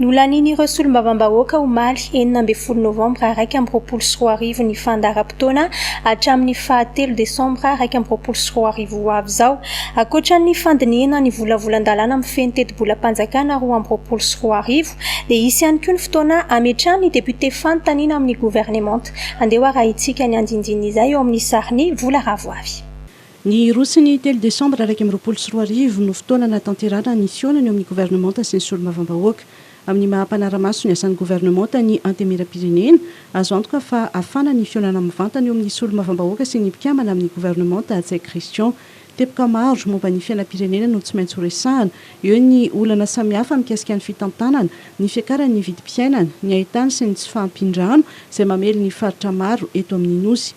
Nolanian'ireo solombavambahoaka omaly enina ambin'ny folo novambra iraika amby roapolo sy roa arivo ny fandaharam-potoana hatramin'ny faha telo desambra iraika amby roapolo sy roa arivo ho avy izao, ankoatra ny fandinihana ny volavolan-dalàna mifehy ny tetibolam-panjakana roa amby roapolo sy roa arivo dia hisy ihany koa ny fotoana hametrahan'ny depiote fanontaniana amin'ny governemanta. Andeha ho arahintsika ny andinindininy izay eo amin'ny sarin'i Vola Ravoavy. Ny roa sy ny telo desambra iraika amby roapolo sy roa arivo no fotoana nahatanterahana ny fihaonana eo amin'ny governemanta sy ny solombavambahoaka. Amin'ny maha mpanara-maso ny asan'ny governemanta ny Antemieram-pirenena, azo antoka fa hafana ny fihaonana mivantana eo amin'ny solombavambahoaka sy ny mpikambana amin'ny governemanta Hatsay Christian. Teboka maro momba ny fiainam-pirenena no tsy maintsy horesahana, eo ny olana samihafa mikasika ny fitantanana, ny fiakaran'ny vidim-piainana, ny haintany sy ny tsy fahampian-drano izay mamely ny faritra maro eto amin'ny Nosy.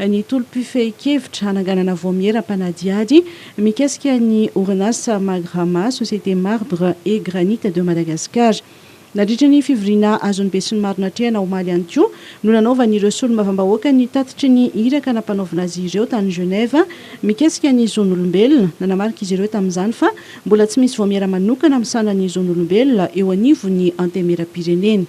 ny tolom-pifehin-kevitra hananganana vaomiera mpanadihady mikasika ny orinasa Magrama, Société Marbre et Granite de Madagascar. Nandritra ny fivoriana azon'ny besinimaro natrehana omaly ihany koa no nanaovan'ireo solombavambahoaka ny tatitry ny iraka nampanaovina azy ireo tany Genève mikasika ny zon'olombelona. Nanamarika izy ireo tamin'izany fa mbola tsy misy vaomiera manokana misahana ny zon'olombelona eo anivon'ny Antenimierampirenena.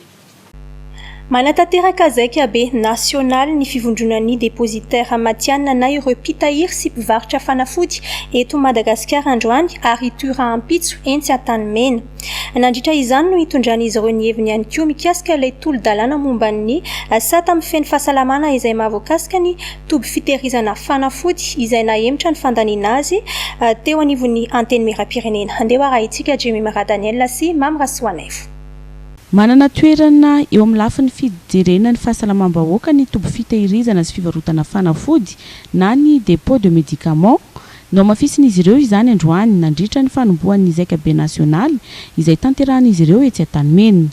Manatanteraka zaika be nasionaly ny Fivondronan'ny Depozitera Matihanina na ireo mpitahiry sy mpivarotra fanafody eto Madagasikara androany ary hitohy rahampitso etsy Antanimena. Nandritra izany no hitondran'izy ireo ny heviny ihany koa mikasika ilay tolo-dalàna momba ny sata mifehy fahasalamana izay mahavoakasika ny toby fitehirizana fanafody izay nahemotra ny fandaniana azy teo anivon'ny Antenimierampirenena. Handeha ho arahintsika Jemima Radaniel sy Mamy Rasoanaivo. Manana toerana eo amin'ny lafiny fijerena ny fahasalamam-bahoaka ny toby fitehirizana sy fivarotana fanafody na ny dépôt de médicaments. Nohamafisin'izy ireo izany androany nandritra ny fanombohan'ny zaikabe nasionaly izay tanterahin'izy ireo etsy Antanimena.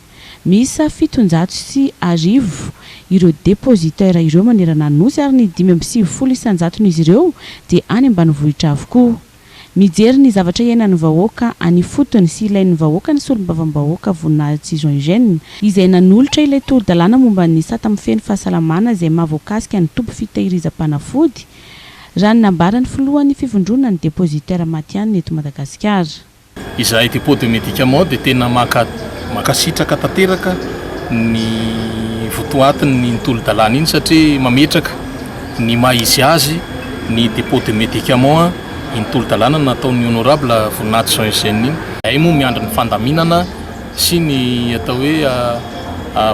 Miisa fitonjato sy arivo ireo dépositaires ireo manerana ny Nosy ary ny dimy amby sivifolo isan-jaton'izy ireo dia any ambanivohitra avokoa. Mijery ny zavatra iainan'ny vahoaka any ifotony sy ilain'ny vahoaka ny Solombavambahoaka Voninahitsy Tsizo Eugène, izay nanolotra ilay toro-dalàna momba ny sata mifehy ny fahasalamana izay maha voakasika ny toby fitahirizam-panafody, raha ny nambaran'ny filohan'ny fivondronan'ny Depositaires matihanina eto Madagasikara. Izahay eto Hippo de Medica Mall dia tena mankasitraka tanteraka ny votoatin'iny tolo-dalàna iny satria mametraka ny maha izy azy ny Dépôt de Médicaments iny tolo-dalàna nataon'ny Honorable Voninahitsy Jean Eugène iny. Izahay moa miandry ny fandaminana sy ny atao hoe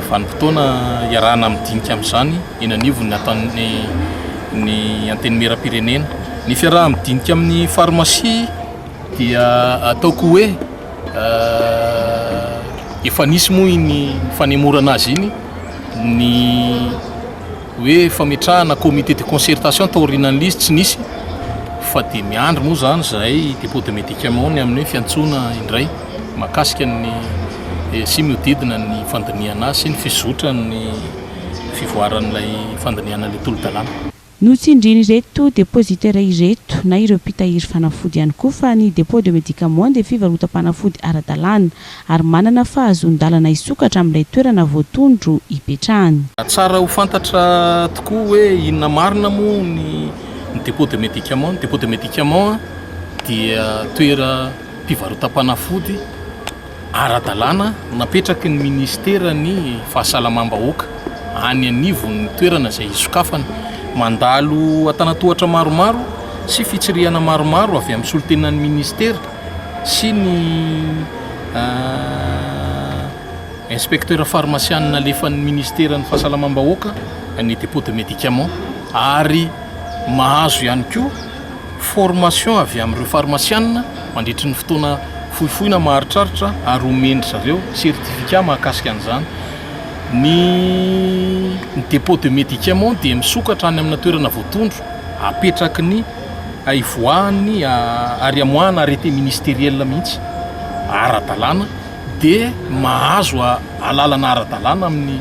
vanim-potoana hiarahana midinika amin'izany eny anivon'ny ataon'ny Antenimieram-pirenena ny fiaraha-midinika amin'ny Pharmacie. dia ataoko hoe efa nisy moa iny fanemorana azy iny ny hoe fametrahana comité de concertation taorinan'il'izy tsy nisy fa dia miandry moa zany zahay dépôt de médicament ny amin'ny fiantsoana indray makasika ny eh, sy miodidina ny fandinihana azy sy ny fizotran'ny fivoaran'ilay fandinihana ilay tolo-dalàna Notsindrin'ireto depositaires ireto na ireo mpitahiry fanafody ihany koa fa ny dépôt de médicaments dia fivarotam-panafody ara-dalàna ary manana fahazoan-dalana hisokatra amin'ilay toerana voatondro hipetrahany. Tsara ho fantatra tokoa hoe inona marina moa ny dépôt de médicaments. Ny dépôt de médicaments dia toera. mpivarotam-panafody ara-dalàna napetraky ny minisiteran'ny Fahasalamam-bahoaka any anivon'ny toerana izay hisokafana. Mandalo antanan-tohatra maromaro sy fitsirihana maromaro avy amin'ny solontenan'ny minisitera sy ny inspektera farmasiana nalefan'ny minisiteran'ny Fahasalamam-bahoaka ny depot de medicament ary mahazo ihany koa formation avy amin'ireo farmasianina mandritry ny fotoana fohifohy na maharitraritra ary omen-dry zareo certificat mahakasika an'izany. Ny ny dépôt de médicaments dia misokatra any amina toerana voatondro apetraky ny hivoahan'ny ary amoahana arrêté ministériel mihitsy ara-dalàna dia mahazo alalana ara-dalàna amin'ny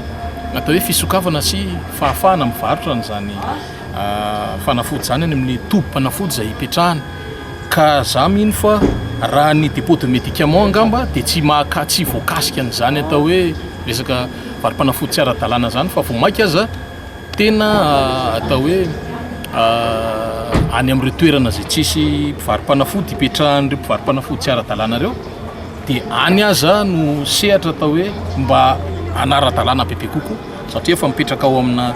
atao hoe fisokafana sy fahafahana mivarotra an'izany fanafody izany any amin'ny tobim-panafody izay hipetrahany ka za mino fa raha ny depot de medicament angamba dia tsy mahaka tsy voakasika an'izany atao hoe resaka varim-panafody tsy ara-dalàna izany fa vao mainka aza tena atao hoe any amin'ireo toerana izay tsisy mpivaro-panafody hipetrahan'ireo mpivaro-panafody tsy ara-dalàna ireo dia any aza no sehatra atao hoe mba hanara-dalàna bebe kokoa satria efa mipetraka ao amina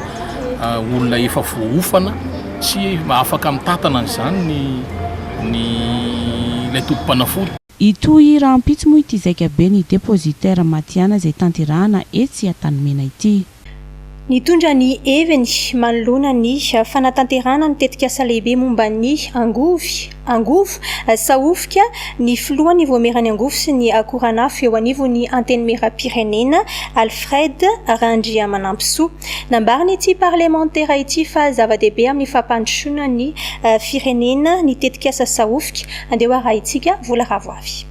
olona efa voaofana tsy afaka mitantana an'izany ny ny ilay tompom-panafody. Hitohy rahampitso moa ity zaika be ny depositaire matihanina izay tanterahana etsy Antanimena ity. Nitondra ny heviny manoloana ny fanatanterahana ny tetikasa lehibe momba ny angovy, Angovo, Sahofika, ny filohan'ny Voamierany Angovo sy ny akoranafo eo anivon'ny Antenimierampirenena, Alfred Randriamanampisoa. Nambarin'ity parlemantera ity fa zava-dehibe amin'ny fampandrosoana ny firenena ny tetikasa Sahofika, andeho arahintsika vola ravoavy.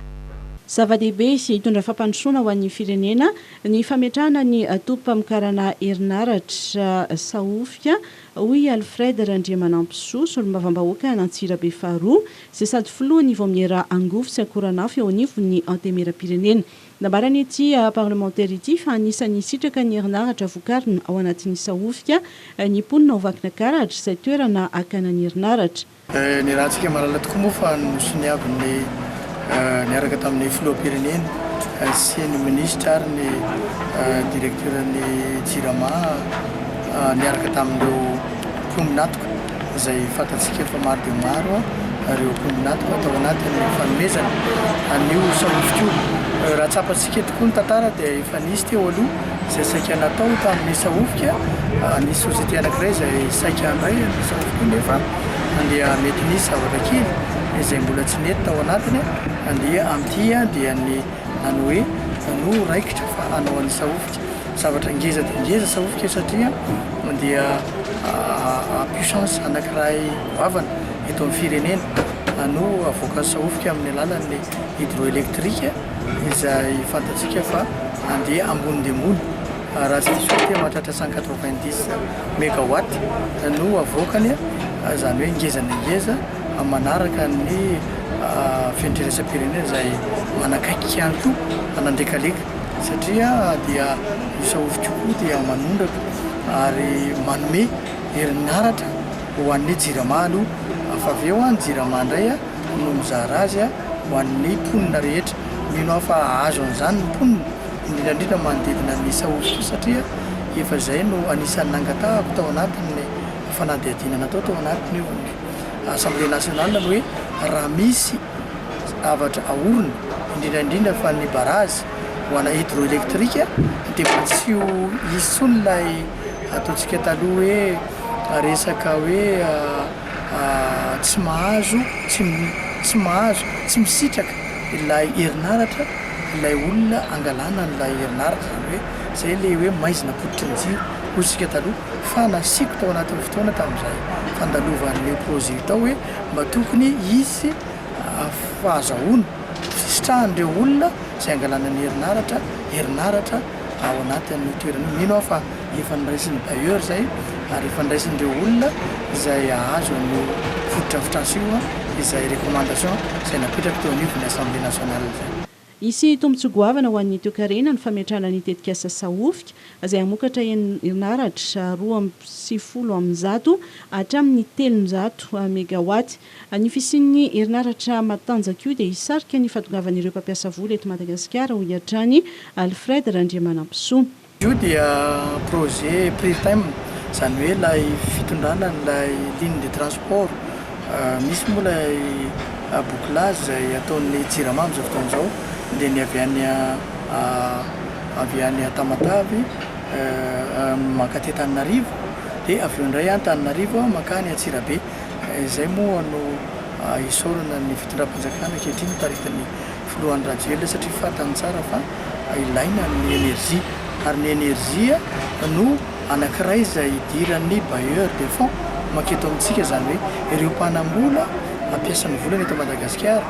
Zava-dehibe sy hitondra fampandrosoana ho an'ny firenena ny fametrahana ny tobim-pamokarana herinaratra Sahofika. hoy i Alfred Randriamanampisoa, solombavambahoaka an'Antsirabe faharoa, izay sady filohan'ny Vaomiera Angovo sy Akoranafo eo anivon'ny Antemieram-pirenena. Nambaran'ity parlemantera ity fa anisan'ny hisitraka ny herinaratra vokarina ao anatin'ny Sahofika ny mponina ao Vakinakaratra, izay toerana hakana ny herinaratra. Ny rahantsika mahalala tokoa moa fa nosoniavin'ny niaraka tamin'ny filoham-pirenena sy ny minisitra ary ny direktioran'ny Jirama niaraka tamin'ireo mpaminatoka izay fantatsika efa maro dia maro ireo mpaminatoka tao anatin'ny fanomezana an'io sary hosodoko io. Raha tsapantsika tokoa ny tantara dia efa nisy teo aloha. Izay saika natao tamin'ny sahofika, nisy société anankiray izay saika handray ny sahofiko nefa dia mety nisy zavatra kely izay mbola tsy nety tao anatiny dia amin'ity dia ny ny hoe manohy raikitra fa hanao an'ny sahofika zavatra ngeza dia ngeza sahofika satria dia puissance anankiray goavana eto amin'ny firenena, hanohy havoaka ny sahofika amin'ny alalan'ny hydroélectrique. izay fantatsika fa andeha ambony dia ambony raha tsy diso dia mahatratra cent quatre vingt dix megawatt no avoakany izany hoe ngeza dia ngeza manaraka ny fenitran'iraisampirenena izay manakaiky ihany koa hanandekaleka satria dia io saofy kokoa dia manondraka ary manome herinaratra ho an'ny jirama aloha fa avy eo ny jirama indray a no mizara azy ho an'ny mponina rehetra. Mino aho fa hahazo an'izany ny mponina, indrindra indrindra manodidina ny Sahoba satria efa izay no anisan'ny nangatahako tao anatin'ny fanadihadiana natao tao anatin'ny Assemblée nationale ny hoe raha misy zavatra aorina, indrindra indrindra fa ny barazy ho ana hydroélectrique dia mba tsy ho hisy intsony ilay ataontsika taloha hoe resaka hoe tsy mahazo, tsy tsy mahazo, tsy misitraka ilay herinaratra ilay olona angalana an'ilay herinaratra, zany hoe zay le hoe maizina pototry ny jiro hoy isika taloha, fa nasiako tao anatin'ny fotoana tamin'izay fandalovan'io projet io tao hoe mba tokony hisy fahazahoana, fisitrahan'ireo olona izay angalana ny herinaratra, herinaratra. ao anatin'io toerana io. Mino aho fa efa noraisin'ny bailleur izay ary efa noraisin'ireo olona izay hahazo an'io fotodrafitrasa io izay recommandation izay napetraky teo anivon'ny Assemblée nationale izay. Hisy tombontsoa goavana ho an'ny toekarena ny fametrahana ny tetikasa Sahofika izay hamokatra herinaratra roa amby sivifolo amin'ny zato hatramin'ny telonjato megawatt. Ny fisian'ny herinaratra matanjaka io dia hisarika ny fahatongavan'ireo mpampiasa vola eto Madagasikara, hoy hatrany Alfred Randriamanampisoa. Io dia projet Pritm, izany hoe ilay fitondrana an'ilay ligne de transport. Misy moa ilay bouclage izay ataon'ny Jirama amin'izao fotoana izao, dia ny avy any avy any Tamatave mankaty Antananarivo, dia avy eo indray Antananarivo mankany Antsirabe. Izay moa no isaorana ny fitondram-panjakana ankehitriny taritin'ny filoha Andry Rajoelina satria fantany tsara fa ilaina ny energie ary ny energie no anankiray izay idiran'ny bailleurs de fonds manketo amintsika izany hoe ireo mpanam-bola hampiasa ny volany eto Madagasikara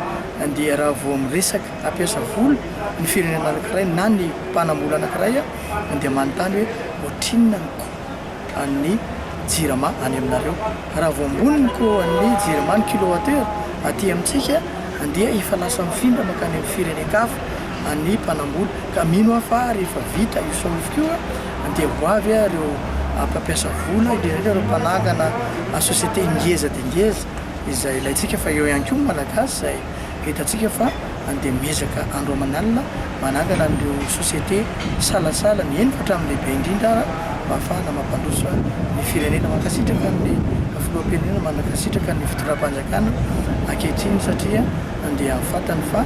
dia raha vao miresaka hampiasa vola ny firenena anankiray na ny mpanam-bola anankiray dia manontany hoe ohatrinona ny coût an'ny Jirama any aminareo. Raha vao ambony ny coût an'ny Jirama ny kilowatt-heure aty amintsika dia efa lasa mifindra mankany amin'ny firenen-kafa ny mpanambola. Ka mino aho fa rehefa vita io solfa io dia ho avy ireo mpampiasa vola, indrindra indrindra ireo mpanangana société ngeza dia ngeza izay ilaintsika fa eo ihany koa ny Malagasy izay. Entantsika fa andeha miezaka andro aman'alina manangana an'ireo société salasala ny eny fa hatramin'ny lehibe indrindra ara mba hahafahana mampandroso ny firenena. Mankasitraka ny Filoham-pirenena, mankasitraka ny Fitondram-panjakana ankehitriny satria andeha fantany fa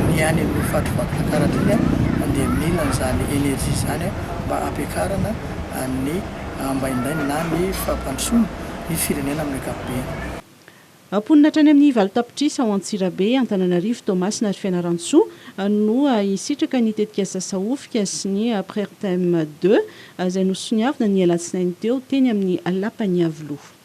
ny any amin'ny faritry Vakinankaratra iny andeha mila an'izany énergie izany mba hampiakarana ny ambaindainy na ny fampandrosoana ny firenena amin'ny ankapobeny. Mponina hatrany amin'ny valo tapitrisa ao Antsirabe, Antananarivo, Toamasina ary Fianarantsoa no hisitraka ny tetikasa Sahofika sy ny Prertem deux, izay nosoniavina ny alatsinainy teo teny amin'ny Lapan'i Iavoloha.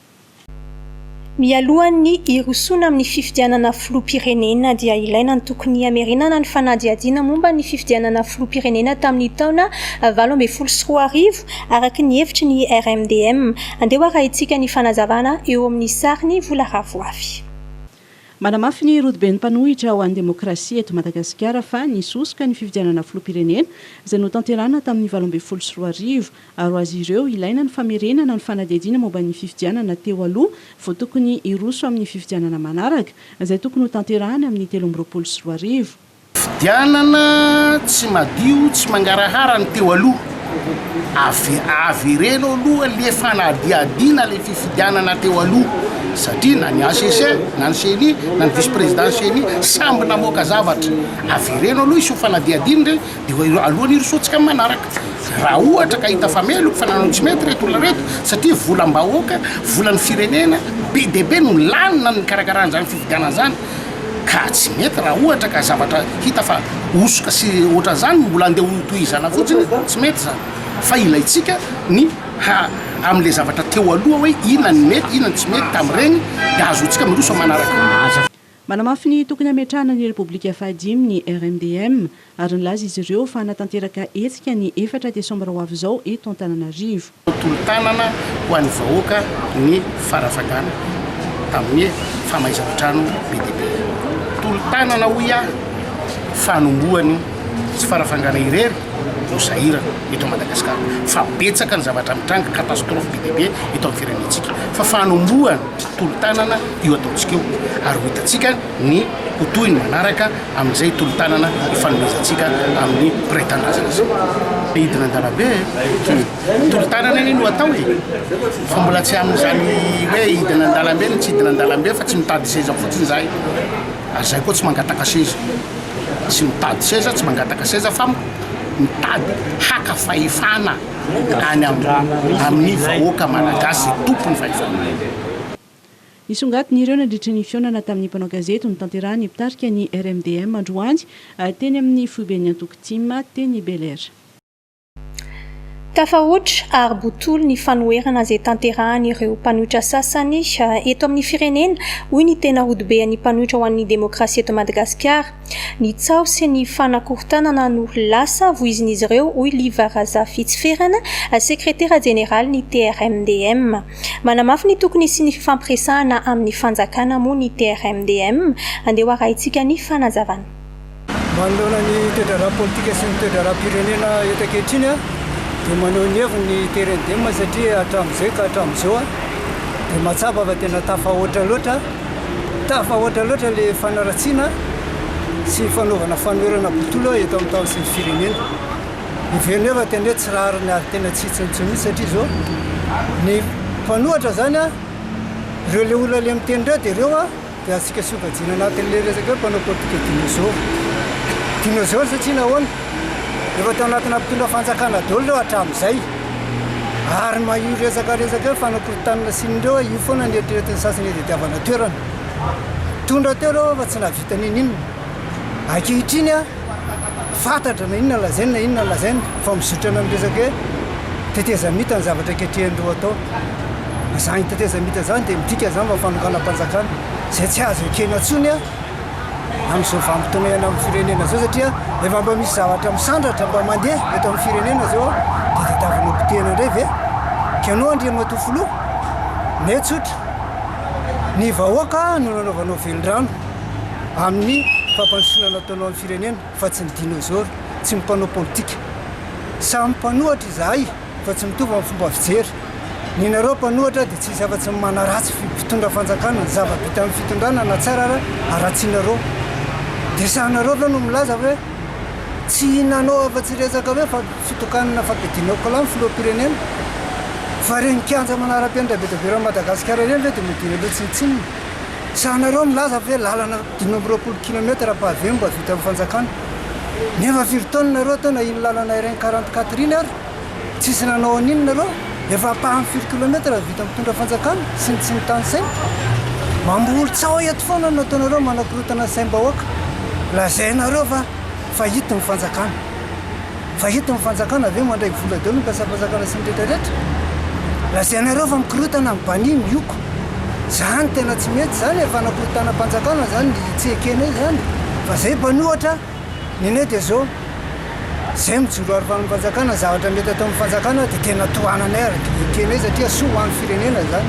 Mialohan'ny hirosoana amin'ny fifidianana filoham-pirenena dia ilaina ny tokony hamerenana ny fanadihadiana momba ny fifidianana filoham-pirenena tamin'ny taona valo ambin'ny folo sy roa arivo, Araka ny hevitry ny RMDM, andeho arahintsika ny fanazavana eo amin'ny sarin'i Vola Ravoafy. Manamafy ny rodoben'ny mpanohitra ho an'ny demokrasia eto Madagasikara fa nisosoka ny fifidianana filoham-pirenena izay notanterahana tamin'ny valo ambin'ny folo sy roa arivo ary ho azy ireo ilaina ny famerenana ny fanadihadiana momba ny fifidianana teo aloha vao tokony hiroso amin'ny fifidianana manaraka izay tokony hotanterahany amin'ny telo amby roapolo sy roa arivo. Fidianana tsy madio tsy mangarahara ny teo aloha, avy avereno aloha le fanadihadiana le fifidianana teo aloha satria na ny HCC na ny ceni na ny vice président ny ceni samby namoaka zavatra, avereno aloha hiseho fanadihadiana re de alohan'ny hirosoantsika amin'ny manaraka, raha ohatra ka hita fa meloka fa nanao ny tsy mety reto olona reto satria volam-bahoaka, volan'ny firenena be dia be no lany nan'ny nikarakarana izany fifidianana izany. Ka tsy mety raha ohatra ka zavatra hita fa hosoka sy ohatran'izany no mbola andeha hotohizana fotsiny, tsy mety izany fa ilaintsika ny ha amin'ilay zavatra teo aloha hoe inona ny mety, inona ny tsy mety tamin'ireny dia ahazoantsika miroso amin'ny manaraka. Manamafy ny tokony hametrahana ny Repoblika fahadimy ny RMDM ary nilaza izy ireo fa hanatanteraka hetsika ny efatra desambra ho avy izao eto Antananarivo. Tolo-tanana ho an'ny vahoaka ny fanafagana amin'ny famaizan-trano be dia be. Tolo-tanana hoy aho fa hanombohany tsy fanafagana irery no sahirana eto Madagasikara fa betsaka ny zavatra mitranga, catastrophe be dia be eto amin'ny firenentsika fa fanombohany tolo-tanana io ataontsika io ary ho hitantsika. ny ho tohiny manaraka amin'izay tolo-tanana ifanomezantsika amin'ny mpiray tanindrazana izao. Hidina an-dalambe e! Tolo-tanana anie no atao e! Fa mbola tsy amin'izany hoe hidina an-dalambe no tsy hidina an-dalambe fa tsy mitady seza fotsiny izahay. Ary izahay koa tsy mangataka seza, tsy mitady seza, tsy mangataka seza fa mitady haka fahefana any amin'ny vahoaka malagasy izay tompon'ny fahefana. Nisongadina ireo nandritra ny fihaonana tamin'ny mpanao gazety notanterahin'ny mpitarika ny RMDM androany teny amin'ny foiben'ny antoko tim teny Bel-Air. Tafahoatra ary botolo ny fanoherana izay tanterahan'ireo mpanohitra sasany eto amin'ny firenena, hoy ny tena rodoben'ny mpanohitra ho an'ny demokrasia eto Madagasikara. Ny tsaho sy ny fanakorontanana no lasa voizin'izy ireo, hoy Liva Razafitsiferana, sekretera jeneralin'ny TRMDM. Manamafy ny tokony hisian'ny fifampiresahana amin'ny fanjakana moa ny TRMDM. Andeha ho arahintsika ny fanazavana. Manoloana ny toe-draharaha politika sy ny toe-draharaham-pirenena eto ankehitriny dia maneho ny heviny ny TRMDM satria hatramin'izay ka hatramin'izao dia mahatsapa fa tena tafahoatra loatra, tafahoatra loatra ilay fanaratsiana sy fanaovana fanoherana botolo eto amin'ny tany sy ny firenena. ny velona efa tena hoe tsy rariny ary tena tsy hitsiny intsony mihitsy satria zao ny mpanohatra zany a reo le olona le miteny reo de reo a de atsika sokajiana anatin'le resaka hoe mpanao politika dinôzôro dinôzôro satria nahoana efa tao anatina mpitondra fanjakana daholo reo hatramin'izay ary ma io resaka resaka hoe fanakorotanana sy ny reo io foana ny eritreretin'ny sasany hitadiavana toerana tondra teo reo fa tsy nahavita n'ininona ankehitriny a fantatra na inona lazaina na inona lazaina fa mizotra any amin'ny resaka hoe tetezamita ny zavatra ankehitriny atao. Izany tetezamita izany dia midika izany fa fanonganam-panjakana izay tsy azo ekena intsony amin'izao vanim-potoana iainana amin'ny firenena izao satria efa mba misy zavatra misandratra mba mandeha eto amin'ny firenena izao dia tadiavina potehina indray ve ianao Andriamatoa Filoha? Ny ahy tsotra, ny vahoaka no nanaovanao velirano. amin'ny fampandrosoana nataonao ny firenena fa tsy ny dinôzôro, tsy ny mpanao politika. Samy mpanohatra izahay fa tsy mitovy amin'ny fomba fijery. Ny nareo mpanohatra dia tsy misy afa-tsy ny manaratsy ny mpitondra fanjakana, ny zava-bitan'ny fitondrana na tsara ara haratsianareo. Dia sahanareo ve no milaza hoe tsy hinanao afa-tsy resaka hoe fa fitokanana fampidinao kla ny filoham-pirenena? Fa ireny kianja manara-penitra be dia be eran'i Madagasikara ireny ve dia midina loha tsinontsinona? Tsahanareo milaza fa hoe lalana dimy amby roapolo kilometatra pavé no mba vitan'ny fanjakana. Nefa firy taona nareo teo nahino lalana RN quarante quatre iny ary tsisy nanao an'iny nareo? Efa ampahany firy kilometatra no vitan'ny mpitondra fanjakana sy ny tsy mitanisaina? Mamboly tsaho eto foana no nataonareo manakorotana ny saim-bahoaka. Lazainareo fa fahity ny fanjakana. Fa eto ny fanjakana ve mandray vola daholo ny mpiasam-panjakana sy ny rehetra rehetra? Lazainareo fa mikorotana ny bani ny oko. Zany tena tsy mety zany e, fanakorotanam-panjakana zany ny tsy ekenay zany fa zay bani ohatra ny anay dia zao zay mijoro aro fanan panjakana zavatra mety ataon'ny fanjakana dia tena tohananay ary dia ekenay satria soa ho an'ny firenena zany.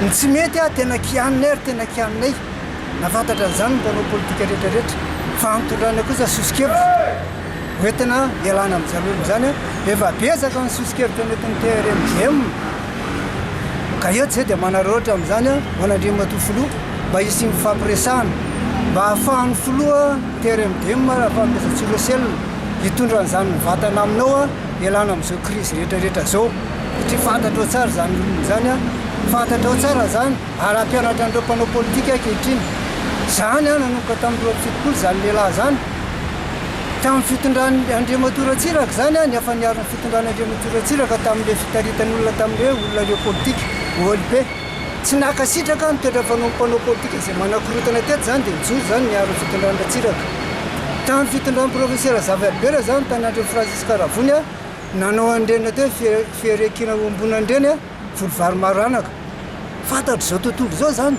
Ny tsy mety tena kianinay ary tena kianinay. Nahafantatra an'izany ny mpanao politika rehetrarehetra fa antondrana kosa sosokevitra hoentina ialana amin'izany olona izany. Efa betsaka ny sosokevitra nentin'ny TRMJM ka eto izay dia manararaotra amin'izany ho an'Andriamatoa Filoha mba hisy fifampiresahana mba hahafahan'ny Filoha TRMJM Rafahamezatsiroselina hitondra an'izany mivantana aminao ialana amin'izao krizy rehetrarehetra izao satria fantatrao tsara izany olona izany, fantatrao tsara izany. ary hampianatra an'ireo mpanao politika ankehitriny izany aho nanomboka tamin'ny roa amby fitopolo izany lehilahy izany tamin'ny fitondran'i Andriamatoa Ratsiraka izany aho niafa niaro ny fitondran'Andriamatoa Ratsiraka tamin'ireo fitaritan'olona tamin'ireo olona ireo politika ohaly be tsy nankasitraka aho ny toetra fanaon'ny mpanao politika izay manakorotana teto izany dia nijoro izany niaro ny fitondran'i Ratsiraka tamin'ny fitondran'ny professeur Razafiaribera izany tany Andrefy Francisca Ravony aho nanao an'ireny atao hoe firekiana iombonana ireny aho Voly vary maranaka. Fantatry zao tontolo zao zany.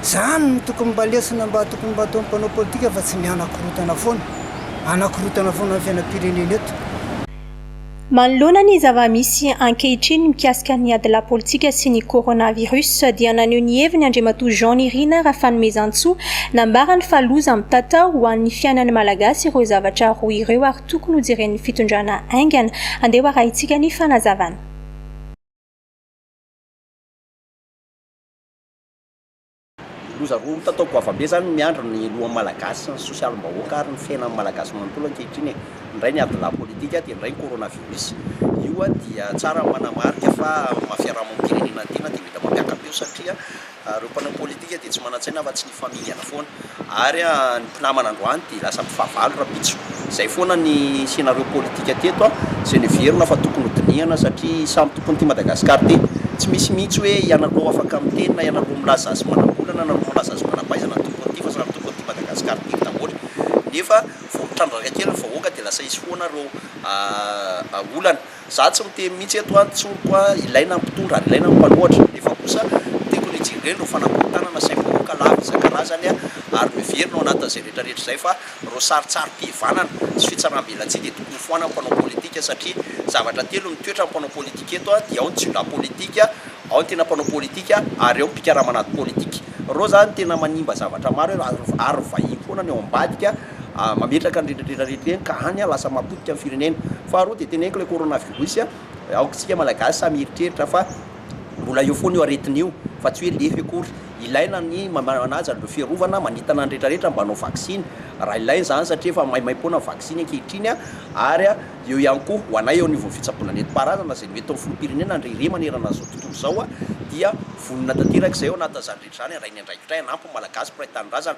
Zany no tokony mba lesona mba tokony mba ataon'ny mpanao politika fa tsy ny hanakorotana foana. Hanakorotana foana ny fiainam-pirenena eto. Manoloana ny zava-misy ankehitriny mikasika ny ady lapolitika sy ny coronavirus dia naneho ny heviny Andriamatoa Jean Nirina Rafanomezantsoa nambarany fa loza mitatao ho an'ny fiainan'ny Malagasy ireo zavatra roa ireo ary tokony hojeren'ny fitondrana haingana. Andeha ho arahintsika ny fanazavana. Loza roa hita tao Goavambe zany no miandry ny lohan'ny Malagasy sy ny sosialim-bahoaka ary ny fiainan'ny Malagasy manontolo ankehitriny e! indray ny adilahy politika dia indray ny coronavirus! io dia tsara ny manamarika fa amin'ny maha fiarahamonim-pirenena tena dia mety mampiaka-peo satria Ary ireo mpanao politika dia tsy manan-tsaina afa-tsy ny famingana foana. Ary ny mpinamana androany dia lasa mifahavalo rahampitso. Izay foana ny scénario politika teto, izay noheverina fa tokony hodinihana satria samy tompon'ity Madagasikara ity. Tsy misy mihitsy hoe ianareo afaka miteny na ianareo milaza azy manam-bola na ianareo milaza azy manam-pahaizana ny tompon'ity fa samy tompon'ity Madagasikara ity daholo. Nefa vao mitrandraka kely ny vahoaka dia lasa hisy foana ireo olana. Za tsy miteny mihitsy eto a, tsoriko a, ilaina ny mpitondra ary ilaina ny mpanohatra, nefa kosa tiako ny hijery ireny reo fanakorontanana saingy vahoaka lavo isan-karazany a, ary miverina ao anatin'izay rehetra rehetra izay fa reo sarintsarim-pihivanana sy fitsarambelatsihy dia tokony foanan'ny mpanao politika satria zavatra telo no toetra ny mpanao politika eto a, dia ao ny tsindram politika, ao ny tena mpanao politika ary ao ny mpikarama anaty politika. Reo zany tena manimba zavatra maro ary vahiny foana ny ao ambadika. ka mametraka ny retraretra rehetra ireny ka any lasa mahapotika ny firenena. Faharoa dia teneniko ilay coronavirus aoka isika malagasy samy hieritreritra fa mbola eo foana io aretina io fa tsy hoe lefy akory. Ilaina ny manaja an'ireo fiarovana, manitana ny retraretra mba hanao vaksiny raha ilaina izany satria efa maimaimpoana ny vaksiny ankehitriny ary eo ihany koa ho anay eo anivon'ny fitsaboana nentim-paharazana izay mety ho an'ny filoham-pirenena ndry re manerana izao tontolo izao dia vonona tanteraka izay ao anatin'izany rehetra izany handray ny andraikitray hanampy ny malagasy mpiray tanindrazana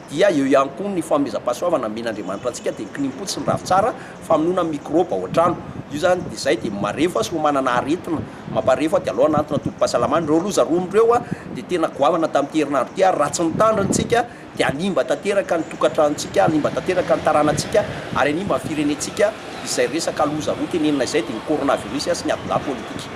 dia eo ihany koa ny fanomezam-pahasoavana amen'Andriamanitra antsika dia ny kinimpotsy ny ravintsara famonoana mikrôba ao an-trano. Io izany dia izay dia marefo fa soa manana aretina mamparefo fa dia aleo hanantona tobim-pahasalamana. Ireo loza roa amin'ireo dia tena goavana tamin'ity herinandro ity ary raha tsy mitandrina isika dia hanimba tanteraka ny tokantranontsika, hanimba tanteraka ny taranantsika ary hanimba ny firenentsika izay resaka loza roa tenenina izay dia ny coronavirus sy ny adin-dahy politika.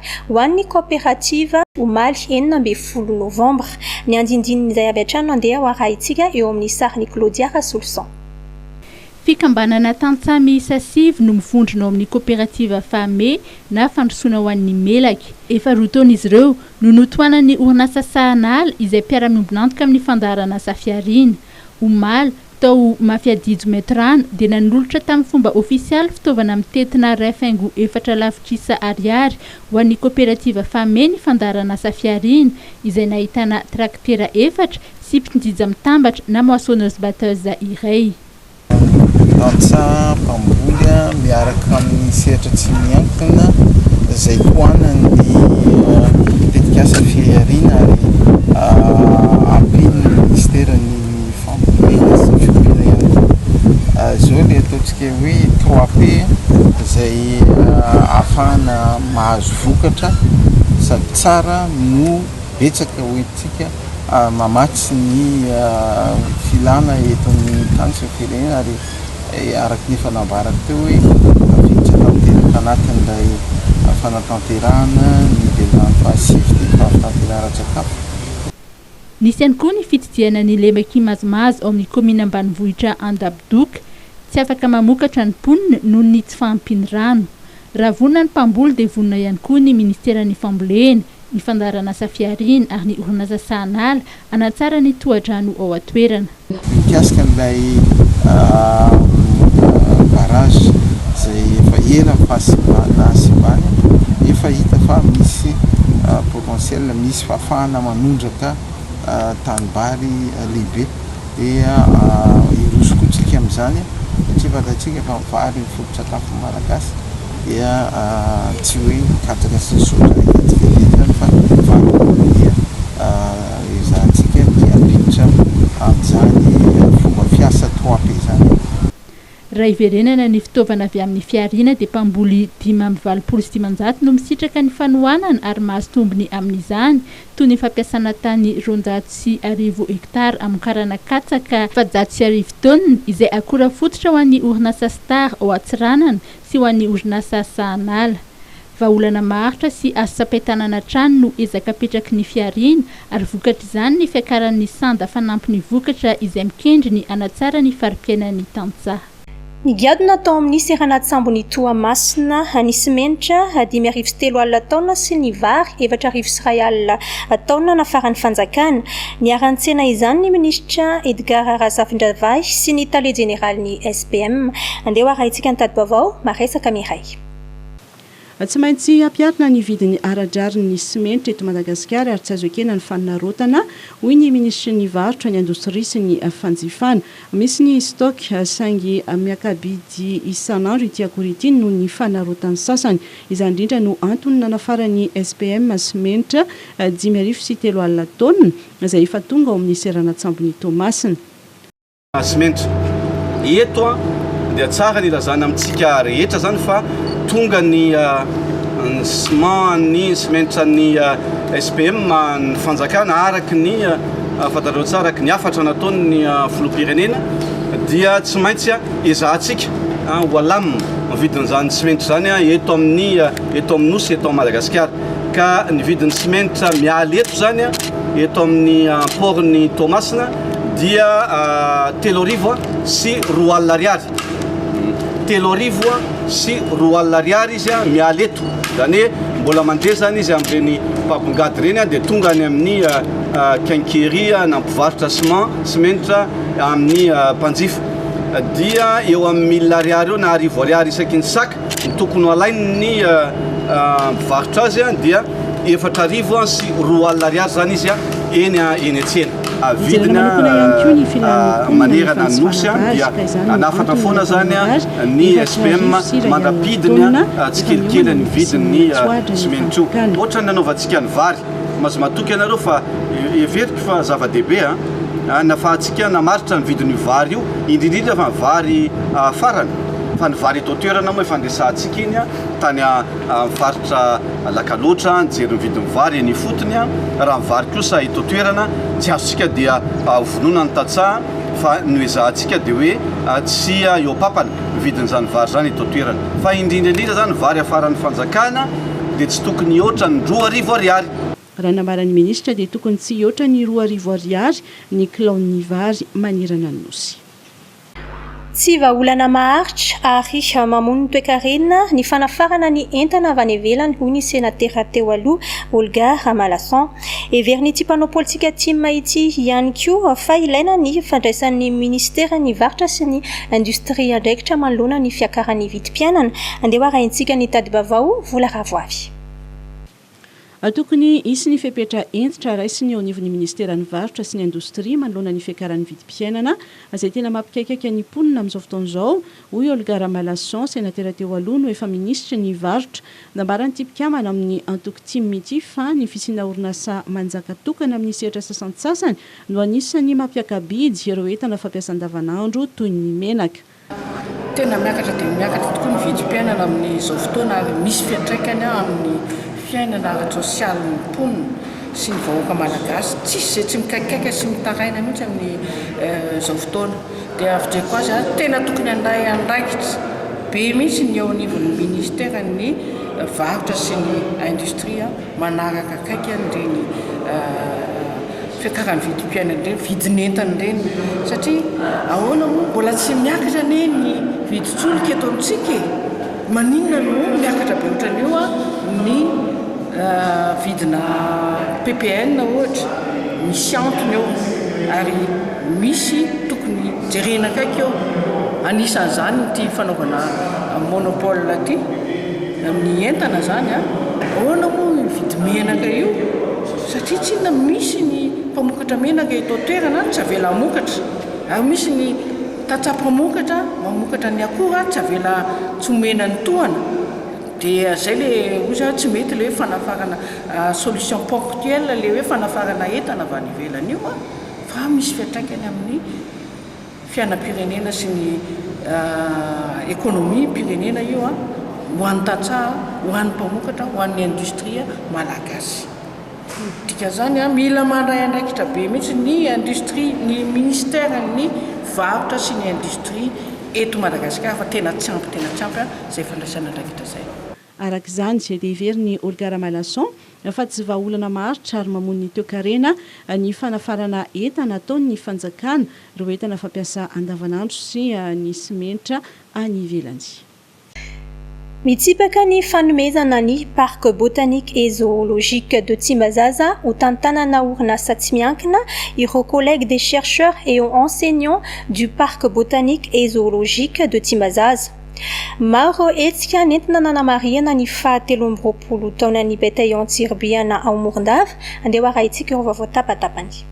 Ho an'ny kaoperativa, omaly enina ambin'ny folo novambra, ny andindinin'izay avy hatrany no andeha ho arahintsika eo amin'ny sarin'i Claudia Rasoloson. Fikambanana tantsaha miisa sivy no mivondrona ao amin'ny kaoperativa Fame na Fandrosoana ho an'ny Melaky. Efa roa taona izy ireo no notohanan'ny orinasa Sahanala izay mpiara-miombon'antoka amin'ny fandaharan'asa Fihariana. Omaly, tao Mafiadijo Metrano, dia nanolotra tamin'ny fomba ofisialy fitaovana mitentina iray faingo efatra lavitrisa ariary ho an'ny koperativa Fame ny fandaharanasa Fihariana, izay nahitana trakitera efatra sy mpitnjija mitambatra na moissonneuse-batteuse iray. Antsa mpamboly miaraka amin'ny sehatra tsy miankina izay tohanan'ny tetikasa Fihariana ary ampian'ny Minisitera ny fambolena sy ny fiompiana ihany koa. Izao ilay ataontsika hoe trois P izay ahafahana mahazo vokatra sady tsara no betsaka hoentintsika. mamatsy ny filana eto amin'ny tany sy ny firenena ary araka ny efa nambarako teo hoe tafiditra tanteraka anatin'ilay fanatanterahana ny velirano fahasivy ity ny fampitanterana ara-tsakafo. Nisy ihany koa ny fitsidihana ny lemaka kimazimazy ao amin'ny kaominina ambanivohitra Andabodoka. Tsy afaka mamokatra ny mponina noho ny tsy fahampian'ny rano. Raha vonona ny mpamboly dia vonona ihany koa ny minisiteran'ny fambolena ny fandaharanasa fihariana ary ny orinasa sahanala hanatsara ny tohadrano ao an-toerana. Mikasika an'ilay barrage izay efa ela ny fahasimbana, efa hita fa misy potentiel, misy fahafahana manondraka tanimbary lehibe. Dia hiroso koa tsika amin'izany satria fantatsika fa ny vary no foto-tsakafon'ny Malagasy. dia tsy hoe mikatona sy misaotra hetsika dia hetsika fa fanombohana dia ezahantsika miampiditra amin'izany fomba fiasa TOAP izany. Raha hiverenana ny fitaovana avy amin'ny fihariana dia mpamboly dimy amby valopolo sy dimanjato no misitraka ny fanohanana ary mahazo tombony amin'izany toy ny fampiasana tany roanjato sy arivo hekitara hamokarana katsaka efajato sy arivo taonina izay akora fototra ho an'ny orinasa Star ao Antsiranana sy ho an'ny orinasa Sahanala. Vahaolana maharitra sy azo tsapain-tanana hatrany no ezaka apetraky ny fihariana ary vokatr'izany ny fiakaran'ny sanda fanampin'ny vokatra izay mikendry ny hanatsara ny fari-piainan'ny tantsaha. Nigadona tao amin'ny seranan-tsambon'i Toamasina ny simenitra dimy arivo sy telo alina taonina sy ny vary efatra arivo sy iray alina taonina nafaran'ny fanjakana. Niara-nitsena izany ny minisitra Edgard Razafindravahy sy ny tale jeneralin'ny SPM. Andeha ho arahintsika ny tati-baovao maresaka miray. Tsy maintsy hampiharina ny vidiny ara-drarin'ny simenitra eto Madagasikara ary tsy azo ekena ny fanarotana, hoy ny minisitry ny Varotra, ny indostria sy ny fanjifana. Misy ny stock saingy miaka-bidy isan'andro ity akora ity noho ny fanarotan'ny sasany. Izany indrindra no antony nanafaran'ny SPM sy Menitra dimy arivo sy telo alina taonina, izay efa tonga ao amin'ny seranan-tsambon'i Toamasina. Simenitra. Eto dia tsara ny ilazana amintsika rehetra izany fa tonga ny ciment, ny simenitra an'ny SPM ny fanjakana araka ny fantatrareo tsara, araka ny hafatra nataon'ny filoham-pirenena dia tsy maintsy. Ezahantsika an ho alamina ny vidin'izany simenitra izany an eto amin'ny eto amin'ny Nosy eto Madagasikara ka ny vidin'ny simenitra mialy eto izany an eto amin'ny port ny Toamasina dia telo arivo an sy roa alina ariary telo arivo an sy roa alina ariary izy an mialy eto izany hoe mbola mandeha izany izy amin'ireny mpabongady ireny an dia tonga any amin'ny Quincaillerie na mpivarotra ciment simenitra amin'ny mpanjifa dia eo amin'ny mille ariary eo na arivo ariary isaky ny sac ny tokony halain'ny mpivarotra azy dia efatra arivo sy roa alina ariary izany izy eny eny an-tsena. Vidina manerana ny Nosy dia hanafatra foana izany ny SPM mandra-pidiny tsikelikely ny vidin'ny simenitra io. Ohatran'ny nanaovantsika ny vary. Aza matoky ianareo fa heveriko fa zava-dehibe an! hanafahantsika namaritra ny vidin'io vary io, indrindrindra fa ny vary farany fa ny vary eto an-toerana moa efa niresahantsika iny an! tany amin'ny faritra Alakaloatra nijery ny vidin'ny vary eny ifotony an! raha ny vary kosa eto an-toerana tsy azontsika dia hovononan'ny tantsaha fa ny hoezahantsika dia hoe tsy eo am-papany ny vidin'izany vary izany eto an-toerana fa indrindra indrindra izany vary hafaran'ny fanjakana dia tsy tokony hihoatra ny roa arivo ariary. Raha nambaran'ny minisitra dia tokony tsy hihoatra ny roa arivo ariary ny kilaon'ny vary manerana ny Nosy. Tsy vahaolana maharitra ary mamono toekarena ny fanafarana ny entana avy any ivelany, hoy ny senatera teo aloha, Olga Ramalason. Heverin'ity mpanao politika Tim ity ihany koa fa ilaina ny fandraisan'ny minisiteran'ny Varotra sy ny indostria andraikitra manoloana ny fiakaran'ny vidim-piainana. Andeha hoarahintsika ny tadi-baovao vola ravoavy. Tokony hisy ny fepetra hentitra raisiny eo anivon'ny minisiteran'ny Varotra sy ny indostria manoloana ny fiakaran'ny vidim-piainana izay tena mampikaikaika ny mponina amin'izao fotoana izao Hoy Olga Ramalason, senatera teo aloha no efa minisitry ny Varotra. Nambaran'ity mpikambana amin'ny antoko tim ity fa ny fisiana orinasa manjaka tokana amin'ny sehatra sasantsasany no anisan'ny mampiaka-bidy ireo entana fampiasa andavanandro toy ny menaka. Tena miakatra dia miakatra tokoa ny vidim-piainana amin'izao fotoana ary misy fiantraikany amin'ny fiainana ara-tsosialin'ny mponina sy ny vahoaka malagasy. Tsisy izay tsy mikaikaika sy mitaraina mihitsy amin'izao fotoana. Dia avidreko azy ary tena tokony handray andraikitra be mihitsy ny eo anivon'ny ministeran'ny varotra sy ny industrie manaraka akaiky an'ireny fiakaran'ny vidim-piainana ireny, vidin'entana ireny satria ahoana moa mbola tsy miakatra anie ny vidin-tsolika eto amintsika e, maninona no miakatra be ohatran'io ny vidina ppn ohatra, misy antony eo ary. Misy tokony jerena akaiky eo, anisan'izany ity fanaovana monopole ity ny entana izany an, ahoana moa io vidimenaka io satria tsinona misy ny mpamokatra menaka eto an-toerana an, tsy avela hamokatra, ary misy ny tantsaha mpamokatra mamokatra ny akora an, tsy avela tsy omena ny tohana, dia izay ilay hoy za tsy mety ilay hoe fanafarana solution ponctuelle ilay hoe fanafarana entana avy any ivelany io an. fa misy fiantraikany amin'ny fiainam-pirenena sy ny ekonomim-pirenena io ho an'ny tantsaha, ho an'ny mpamokatra, ho an'ny indostria malagasy. Dikan'izany, mila mandray andraikitra be mihitsy ny indostria, ny minisiteran'ny varotra sy ny indostria eto Madagasikara fa tena tsy ampy, tena tsy ampy izay fandraisana andraikitra izay. Araka izany, dia heverin'i Olgar Malason fa tsy vahaolana maharitra ary mamono ny toekarena ny fanafarana entana ataon'ny fanjakana, ireo entana fampiasa andavanandro sy ny simenitra any ivelany. Mitsipaka ny fanomezana ny Parc Botanique et Zoologique de Tsimbazaza ho tantanana orinasa tsy miankina ireo Collègues des chercheurs et enseignants du Parc Botanique et Zoologique de Tsimbazaza. Maro ireo hetsika nentina nanamarihana ny faha telo amby roapolo taonan'ny Bataillon Tsiribihana ao Morondava. Andeha ho arahintsika ireo vaovao tapa-tapany.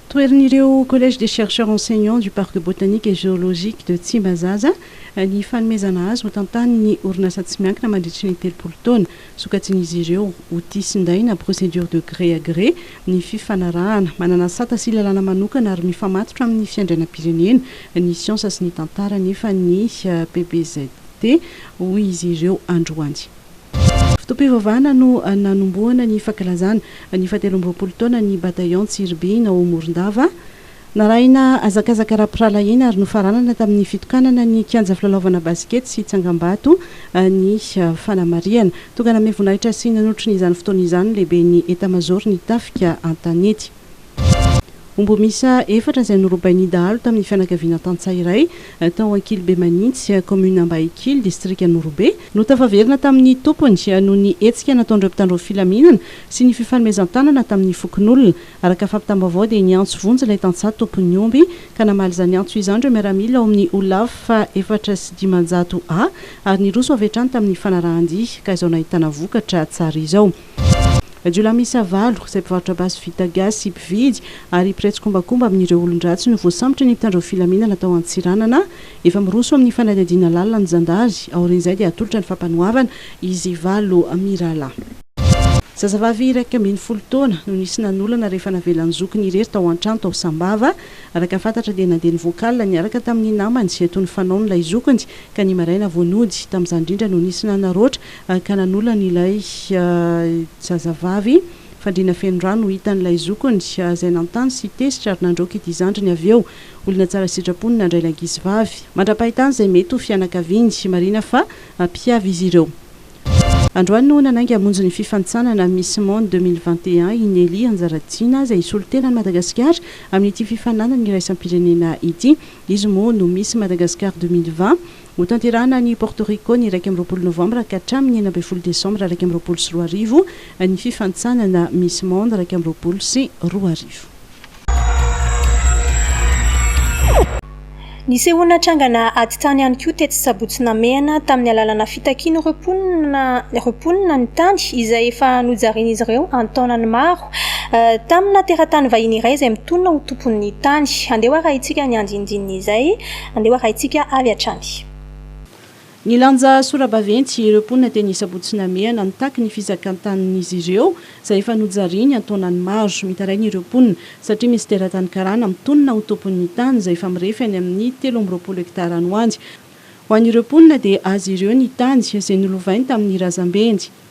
Toherin'ireo Collège des chercheurs enseignants du Parc botanique et géologique de Tsimbazaza ny fanomezana azy ho tantanin'ny orinasa tsy miankina mandritry ny telopolo taona. Sokajian'izy ireo ho tia sy nday na procédure de gré à gré ny fifanarahana. Manana sata sy lalàna manokana ary mifamatotra amin'ny fiandrianam-pirenena, ny siansa sy ny tantara anefa ny PBZT, hoy izy ireo androany. Fotoam-pivavahana no nanombohana ny fankalazana ny fahatelo amby roapolo taonan'ny Bataillon Tsiribihina ao Morondava. Narahina hazakazaka ara-pirahalahiana ary nofaranana tamin'ny fitokanana ny kianja filalaovana basikety sy tsangambato ny fanamarihana. Tonga nanome voninahitra sy nanotry ny izany fotoana izany ny lehiben'ny etamazaoron'ny tafika an-tanety. Omby miisa efatra izay norobain'ny dahalo tamin'ny fianakaviana tantsaha iray tao Ankilibe Manintsy, kaominina Ambahikily, distrikan'Orobe, no tafaverina tamin'ny tompony noho ny hetsika nataon'ireo mpitandro ny filaminana sy ny fifanomezan-tanana tamin'ny fokonolona. Araka fampitam-baovao dia niantso vonjy ilay tantsaha tompon'ny omby ka namaly izany antso izany ireo miaramila ao amin'ny Olaf fahefatra sy dimanjato A ary niroso avy hatrany tamin'ny fanarahan-dia ka izao nahitana vokatra tsara izao. Jiolahy miisa valo, izay mpivarotra basy vita gasy, mpividy ary mpiray tsikombakomba amin'ireo olon-dratsy no voasambotry ny mpitandro filaminana tao Antsiranana. Efa miroso amin'ny fanadihadiana lalina ny zandary. Aorian'izay dia hatolotra ny fampanoavana izy valo mirahalahy. Zazavavy iraika ambin'ny folo taona no nisy nanolana rehefa navelan'ny zokiny irery tao an-trano tao Sambava. Araka fantatra dia nandeha nivoaka alina niaraka tamin'ny namany eto Nifanao ny lay zokiny ka ny maraina vao nody. Tamin'izany indrindra no nisy nanaraotra ka nanolana ilay zazavavy. Fandriana feno rano no hitan'ny lay zokiny izay nanontany sy tezitra ary nandroaka ity zandriny avy eo. Olona tsara sitrapo no nandray ilay ankizivavy. Mandra-pahitana izay mety ho fianakaviany, marihina fa mpihavy izy ireo. Androany no nanainga hamonjy ny fifanintsanana Miss Monde deux mille vingt et un i Nelly Anjaratiana izay hisolo tena an'i Madagasikara amin'ity fifaninanana iraisam-pirenena ity. Izy moa no Miss Madagascar deux mille vingt. Hotanterahina any Porto Rico ny iraika amby roapolo novambra ka hatramin'ny enina ambin'ny folo desambra iraika amby roapolo sy roa arivo ny fifanintsanana Miss Monde iraika amby roapolo sy roa arivo. Nisehoana trangana atitany ihany koa tetsy Sabotsy Namehana tamin'ny alalana fitakian'ireo mponina ireo mponina ny tany izay efa nojarian'izy ireo an-taonany maro tamina teratany vahiny iray izay mitonona ho tompon'ny tany. Andeho arahintsika ny andinindininy izay, andeho arahintsika avy hatrany. Nilanja sora-baventy ireo mponina teny Sabotsy Namehana nitaky ny fizakan-tanin'izy ireo izay efa nojariany an-taonany maro. Mitaraina ireo mponina satria misy teratany karana mitonona ho tompon'ny tany izay efa mirefy any amin'ny telo amby roapolo hektara any ho any. Ho an'ireo mponina dia azy ireo ny tany izay nolovainy tamin'ny razambeny.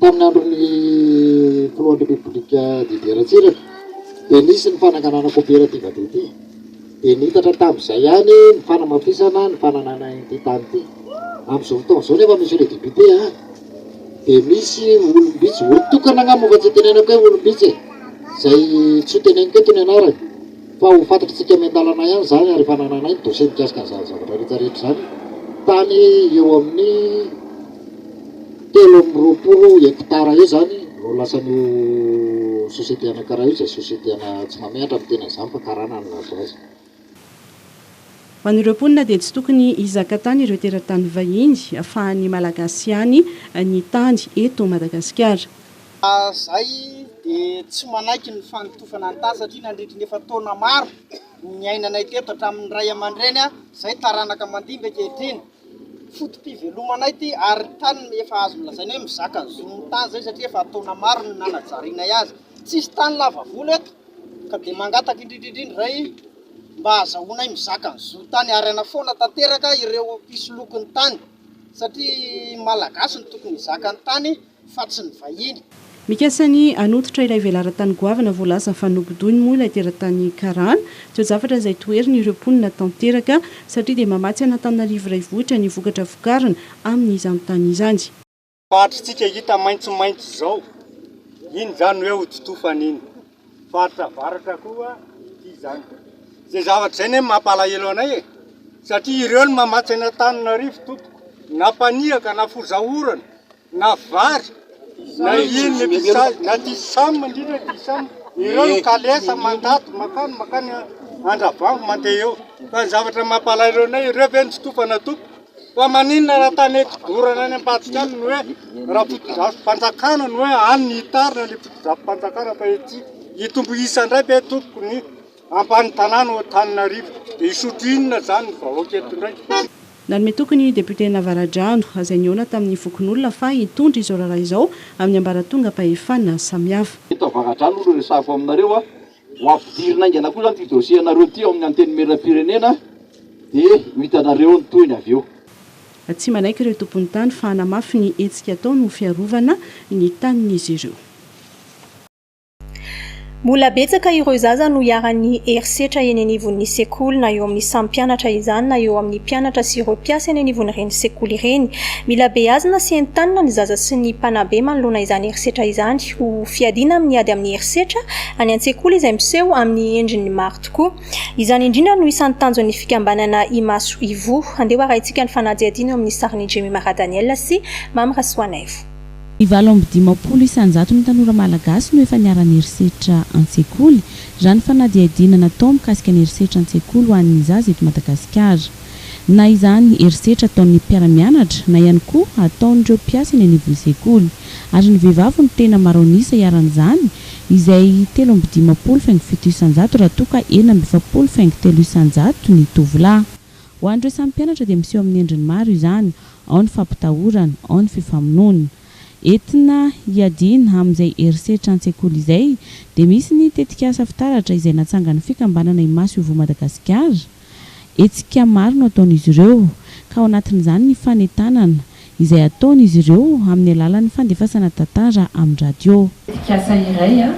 Tamin'ny andron'ny Filohan'ny Repoblika Didier Ratsiraka dia nisy ny fananganana koperativa dia ity dia niitatra tamin'izay ihany ny fanamafisana ny fananana ity tany ity. Amin'izao fotoana izao nefa Monsieur le Député a, dia misy olom-bitsy, olon-tokana angamba fa tsy itenenako hoe olom-bitsy e, izay tsy ho teneniko eto ny anarany. Fa ho fantatr'isika miandalana ihany izany ary efa anananay ny dossier mikasika an'izany zavatra rehetra rehetra izany tany eo amin'ny telo amby roapolo hectares eo izany no lasan'io société anankiray io izay société ana tsy mamehatra ny tenany izany fa karana no nahazo azy. Ho an'ireo mponina dia tsy tokony hizaka tany ireo teratany vahiny fa an'ny Malagasy ihany ny tany eto Madagasikara. Raha izay dia tsy manaiky ny fanotofana ny tany satria nandritry ny efa taona maro no niainanay teto hatramin'ny ray aman-dreny izay taranaka mandimby ankehitriny. Foto-pivelomanay ity ary tany efa azo lazaina hoe mizaka zon'ny tany izay satria efa taona maro no nanajarianay azy. Tsisy tany lava volo eto ka dia mangataka indrindra indrindra izay mba hahazahoanay mizaka ny zontany ary hanafoana tanteraka ireo mpisoloky ny tany satria ny Malagasy no tokony hizaka ny tany. fa tsy ny vahiny. Nikasa ny hanototra ilay velaran-tany goavana voalaza fa nobodoiny moa ilay teratany karana. Toe-javatra izay toheriny ireo mponina tanteraka satria dia mamatsy an'Antananarivo Raivohitra ny vokatra vokarina amin'izany tany izany. Faritritsika hita maitsomaitso izao, iny izany hoe hodi-tofana iny. Faritra avaratra koa ity izany. Izay zavatra izay anie no mampalahelo anay e! Satria ireo no mamatsy an'Antananarivo tompoko, na mpanihaka na fozaorana. na vary na inona ity sazy na ity samy indrindra ity samy ireo no kalesa mandady makany makany andravango mandeha eo fa ny zavatra mampalahelo anay ireo ve no tsy tompo anatopo fa maninona raha tany eto dorana any ambadika any no hoe raha fotodrafo fanjakana no hoe any ny hitarina le fotodrafo fanjakana fa ety hitombo isa indray ve tompoko ny Ampahany tanàna ao Antananarivo. Dia hisotro inona izany ny vahoaka eto indray? Nanome toky ny député Navaradrano, izay nihaona tamin'ny fokonolona fa hitondra izao raharaha izao amin'ny ambaratongam-pahefana samihafa. Eto Avaradrano no resahako aminareo a! Ho ampidirina haingana koa izany ity dossier anareo ity ao amin'ny Antenimierampirenena dia ho hitanareo ny tohiny avy eo. Tsy manaiky ireo tompon'ny tany fa hanamafy ny hetsika ataony ho fiarovana ny tanin'izy ireo. Mbola betsaka ireo zaza no iharan'ny herisetra eny anivon'ny sekoly, na eo amin'ny samy mpianatra izany na eo amin'ny mpianatra sy ireo mpiasa eny anivon'ireny sekoly ireny. Mila beazina sy entanina ny zaza sy ny mpanabe manoloana izany herisetra izany. Ho fiadiana amin'ny ady amin'ny herisetra any an-tsekoly izay miseho amin'ny endriny maro tokoa. Izany indrindra no isan'ny tanjon'ny fikambanana Imaso Ivoho. Andeha ho arahintsika ny fanadihadiana eo amin'ny sarin'i Jemima Radaniel sy Mamy Rasoanaivo. Ny valo amby dimampolo isan-jaton'ny tanora malagasy no efa niharan'ny herisetra an-tsekoly, raha ny fanadihadiana natao mikasika ny herisetra an-tsekoly ho an'ny zaza eto Madagasikara. Na izany herisetra ataon'ny mpiara-mianatra, na ihany koa ataon'ireo mpiasa eny anivon'ny sekoly. Ary ny vehivavy no tena maro an'isa iharan'izany, izay telo amby dimampolo faingo fito isan-jato, raha toa ka enina amby efapolo faingo telo isan-jato ny tovolahy. Ho an'ireo samy mpianatra dia miseho amin'ny endriny maro izany, ao ny fampitahorana, ao ny fifamonoana. Entina hiadiana amin'izay herisetra an-tsekoly izay dia misy ny tetikasa fitaratra izay natsangan'ny fikambanana Imaso Ivoho Madagasikara. Hetsika maro no ataon'izy ireo, ka ao anatin'izany ny fanentanana izay ataon'izy ireo amin'ny alalan'ny fandefasana tantara amin'ny radio. Tetikasa iray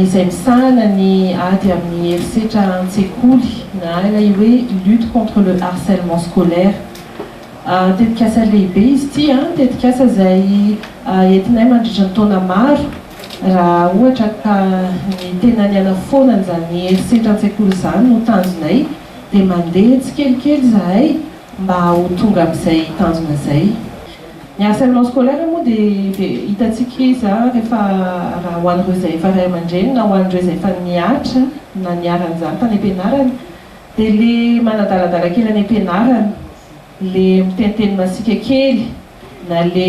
izay misahana ny ady amin'ny herisetra an-tsekoly, na ilay hoe Lutte contre le harcèlement scolaire. Tetikasa lehibe izy ity, tetikasa izay entinay mandritra ny taona maro raha ohatra ka ny tena ny hanafoana an'izany herisetra an-tsekoly izany no tanjonay dia mandeha tsikelikely izahay, mba ho tonga amin'izay tanjona izay. Ny harcèlement scolaire moa dia dia hitantsika izy an, rehefa raha ho an'ireo izay efa ray aman-dreny na ho an'ireo izay efa nihatra na niharan'izany tany am-pianarana dia ilay manadaladala kely any am-pianarana, ilay miteniteny masiaka kely. Na le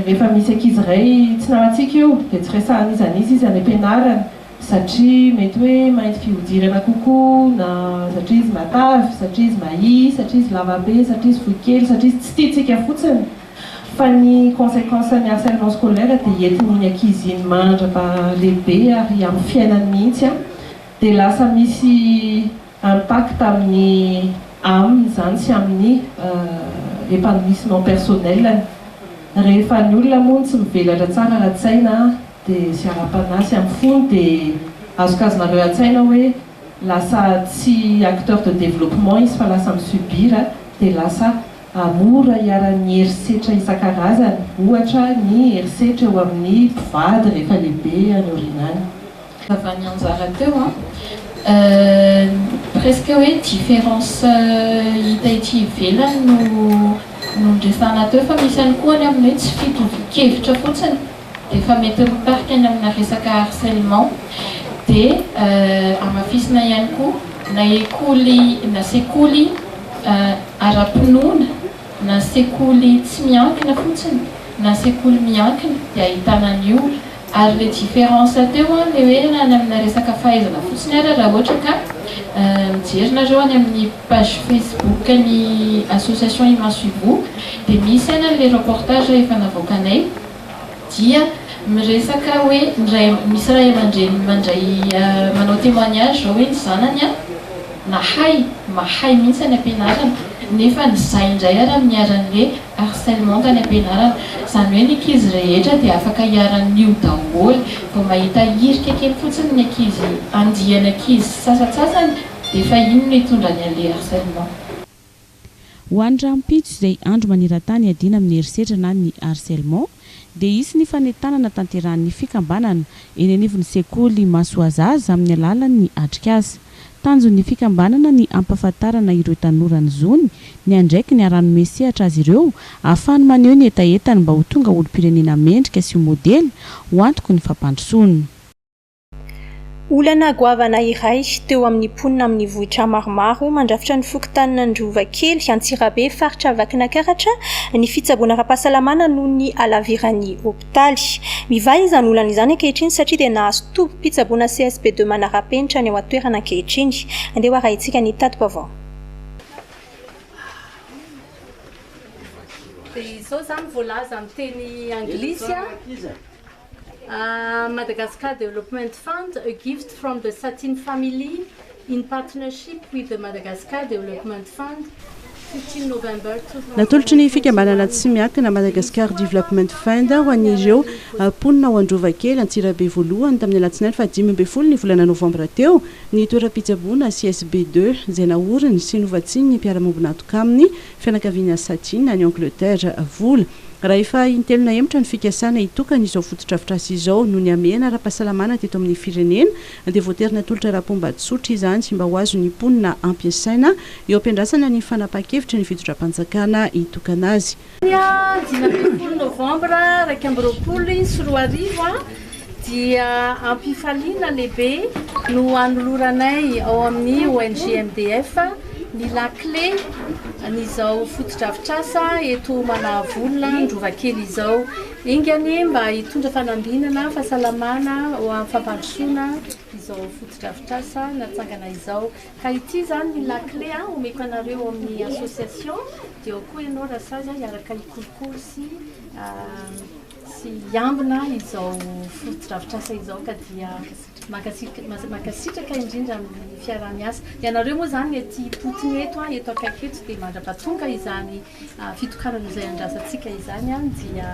rehefa misy ankizy iray tsy namantsika eo dia tsy resahan'iza n'iza izy any am-pianarana satria mety hoe mainty fihodirana kokoa na satria izy matavy, satria izy mahia, satria izy lava be, satria izy fohy kely, satria izy tsy tiantsika fotsiny fa ny consequence-n'ny harcèlement scolaire dia entin'iny ankizy iny mandra-pahalehibe ary amin'ny fiainany mihitsy dia lasa misy impact amin'ny aminy izany sy amin'ny épanouissement personnel-ny. Rehefa ny olona moa tsy mivelatra tsara ara-tsaina dia sy ara-panahy sy amin'ny fony dia azokazonareo an-tsaina hoe lasa tsy acteur de développement izy fa lasa mi-subir dia lasa mora iharan'ny herisetra isan-karazany ohatra ny herisetra eo amin'ny mpivady rehefa lehibe any aoriana any. Vava nianjara teo an! Euh presque hoe différence hita ety ivelany no noresahana teo fa misy ihany koa ny amin'ny hoe tsy fitovian-kevitra fotsiny dia efa mety mitarika any amina resaka harcèlement dia hamafisina ihany koa na ekoly na sekoly ara-pinoana na sekoly tsy miankina fotsiny na sekoly miankina dia ahitana an'io Ary le difference teo an, le hoe any amina resaka fahaizana fotsiny ary raha ohatra ka mijery nareo any amin'ny page facebook ny association imaso ivo dia misy any le reportage efa navoakanay dia miresaka hoe ny ray misy ray aman-dreny mandray manao temoignage zao hoe ny zanany an nahay mahay mihintsy any am-pianarana nefa ny zay indray ary miharanle Harcèlement tany am-pianarana. Izany hoe ny ankizy rehetra dia afaka iharan'io daholo. Vao mahita hirika kely fotsiny ny ankizy, andiany ankizy sy sasantsasany dia efa iny no hitondra ny an'ilay harcèlement. Ho any rahampitso izay andro maneran-tany iadiana amin'ny herisetra na ny harcèlement. dia hisy ny fanentanana tanterahan'ny fikambanana eny anivon'ny sekoly Masoazaza amin'ny alalan'ny atrikasa. Tanjon'ny fikambanana ny hampahafantarana ireo tanora ny zony, ny andraikiny ary hanome sehatra azy ireo ahafahany maneho ny hetahetany mba ho tonga olom-pirenena mendrika sy ho modely ho antoky ny fampandrosoana. Olana goavana iray teo amin'ny mponina amin'ny vohitra maromaro mandrafitra ny fokontanin'Androva kely, Antsirabe, faritra Vakinankaratra, ny fitsaboana ara-pahasalamana noho ny halaviran'ny hopitaly. Mivaha izany olana izany ankehitriny satria dia nahazo tobim-pitsaboana CSP deux manara-penitra ny ao an-toerana ankehitriny. Andeha ho arahintsika ny tati-baovao. Dia izao izany voalaza amin'ny teny anglisy. Madagascar Development Fund, a gift from the Satin family in partnership with the Madagascar Development Fund, fifteen November two thousand and twenty. Natolotry ny Fikambanana Tsy Miankina Madagascar Development Fund ho an'ireo mponina ao Androvakely, Antsirabe Voalohany, tamin'ny alatsinainy fahadimy ambin'ny folo ny volana novambra teo, ny toeram-pitsaboana CSB deux, izay naoriny sy novatsian'ny mpiara-miombon'antoka aminy fianakaviana Satin any Angleterre vola. Raha efa intelo nahemotra ny fikasana hitokana izao fotodrafitrasa izao noho ny hamehana ara-pahasalamana teto amin'ny firenena dia voatery natolotra ara-pomba tsotra izany mba ho azon'ny mponina ampiasaina eo ampiandrasana ny fanapahan-kevitry ny fitodram-panjakana hitokana azy. Ny dimy ambin'ny folo novambra iraika amby roapolo sy roa arivo. Dia am-pifaliana lehibe no anoloranay ao amin'ny ONG MDF ny lakile an'izao fotodrafitrasa eto Manavolona Androvakely izao. Enga anie mba hitondra fanambinana, fahasalamana ho amin'ny fampandrosoana izao fotodrafitrasa natsangana izao. Ka ity izany ny lakile omeko anareo ao amin'ny association, dia ao koa ianao Rasazy hiaraka hikolokolo sy Tsy hiambina izao fotodrafitrasa izao ka dia mankasitraka indrindra amin'ny fiaraha-miasa. Ianareo moa izany ety Putin eto, eto akaiky eto dia mandrapatonga izany fitokanana izay andrasantsika izany dia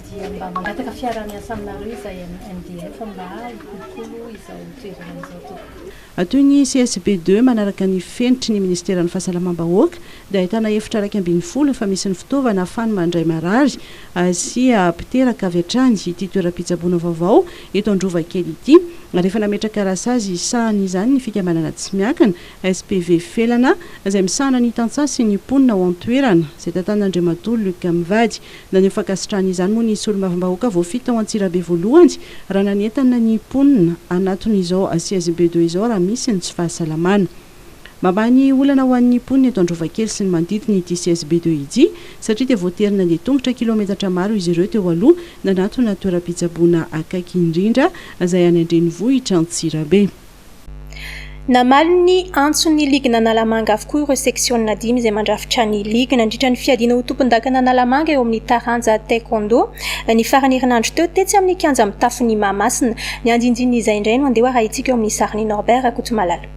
dia mba mangataka fiaraha-miasa aminareo izay MDF mba hikolokolo izao toerana izao tompoko. Toy ny CSB deux manaraka ny fenitry ny Minisiteran'ny Fahasalamam-bahoaka dia ahitana efitra iraika ambin'ny folo efa misy ny fitaovana ahafany mandray marary sy mpiteraka avy hatrany ity toeram-pitsaboana vaovao eto Androvakely ity ary efa nametraka rasazy hisahana izany ny fikambanana tsy miankina SPV Felana izay misahana ny tantsaha sy ny mponina ao an-toerana izay tantanan'Andriamatoa Luc Mivady Naneho fankasitrahana izany moa ny solombavambahoaka voafidy tao Antsirabe voalohany raha nanentana ny mponina hanatona izao siège BDE izao raha misy ny tsy fahasalamana. Mamaha ny olana ho an'ny mponina eto Androvakely sy ny manodidina ity siège BDE ity satria dia voatery nandeha tongotra kilometatra maro izy ireo teo aloha nanatona toeram-pitsaboana akaiky indrindra izay any an-drenivohitra Antsirabe. Namaly ny antson'ny ligina Analamanga avokoa ireo seksionina dimy izay mandrafitra ny ligy nandritra ny fiadiana ho tompondakana Analamanga eo amin'ny taranja Taekwondo ny faran'ny herinandro teo tetsy amin'ny kianja mitafon'i Mahamasina. Ny andinindin'izay indray no andeha ho arahintsika eo amin'ny sarin'i Norbert Rakotomalala.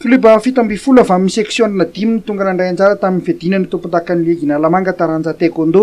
Klioba fito ambin'ny folo avy amin'ny seksiona dimy no tonga nandray anjara tamin'ny fiadiana ny tompondakan'ny ligy Analamanga taranja Taekwondo.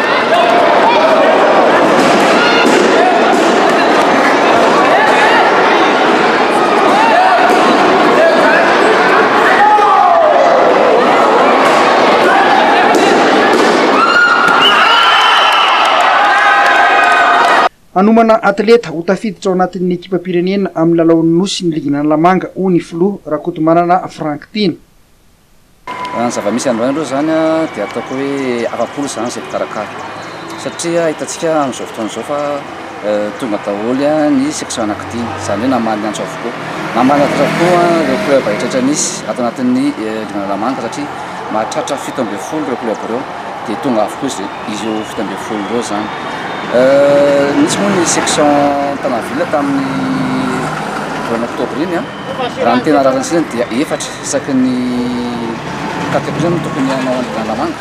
Hanomana atleta ho tafiditra ao anatin'ny ekipam-pirenena amin'ny lalaon'ny Nosy ny ligin'Analamanga, hoy ny filoha, Rakotomanana Franck Tiana. Raha ny zava-misy androany aloha izany dia ataoko hoe afa-po izany izay mpikarakara satria hitantsika amin'izao fotoana izao fa tonga daholo ny section anankidimy, izany hoe namaly ny antso avokoa. Namaly ny antso avokoa ireo club rehetrarehetra misy ato anatin'ny divan' Alamanca satria mahatratra fito ambin'ny folo ireo club ireo dia tonga avokoa izy ireo fito ambin'ny folo ireo izany. Nisy moa ny section Tanaville tamin'ny volana oktobra iny an! Raha ny tena rariny sisa dia efatra isaky ny quatre primes no tokony hanao an'i Dandamanga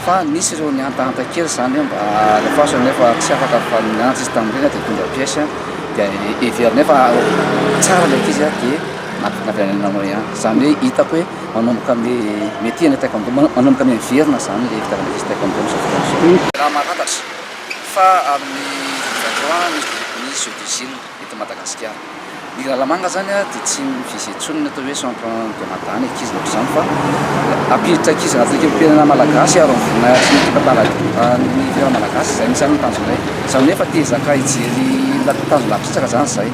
fa nisy ireo nihantahanta kely izany hoe mba alefaso nefa tsy afaka fa niantso izy tamin'ny reny dia nitondra pièce dia heveriny hoe fa tsara ilay ankizy dia nampivadilana anao ihany. Izany hoe hitako hoe manomboka amin'ny métier ilay taekwondo, manomboka amin'ny miverina izany ilay fitiavan'ny ankizy taekwondo amin'izao fotoana izao. Raha mahafantatra fa amin'ny vingt vingt trois ny ny jeux d'usine. eto Madagasikara. Ny lalamanga izany dia tsy misy intsony ny atao hoe centre de mada ny ankizy ohatr'izany fa hampiditra ankizy anaty lekempirenena malagasy ary amin'ny voninahitry ny tantaran'ny firenena malagasy izay no isan'ny tanjonay. Izany hoe efa te hizaka hijery tanjona bitsaka izany izahay.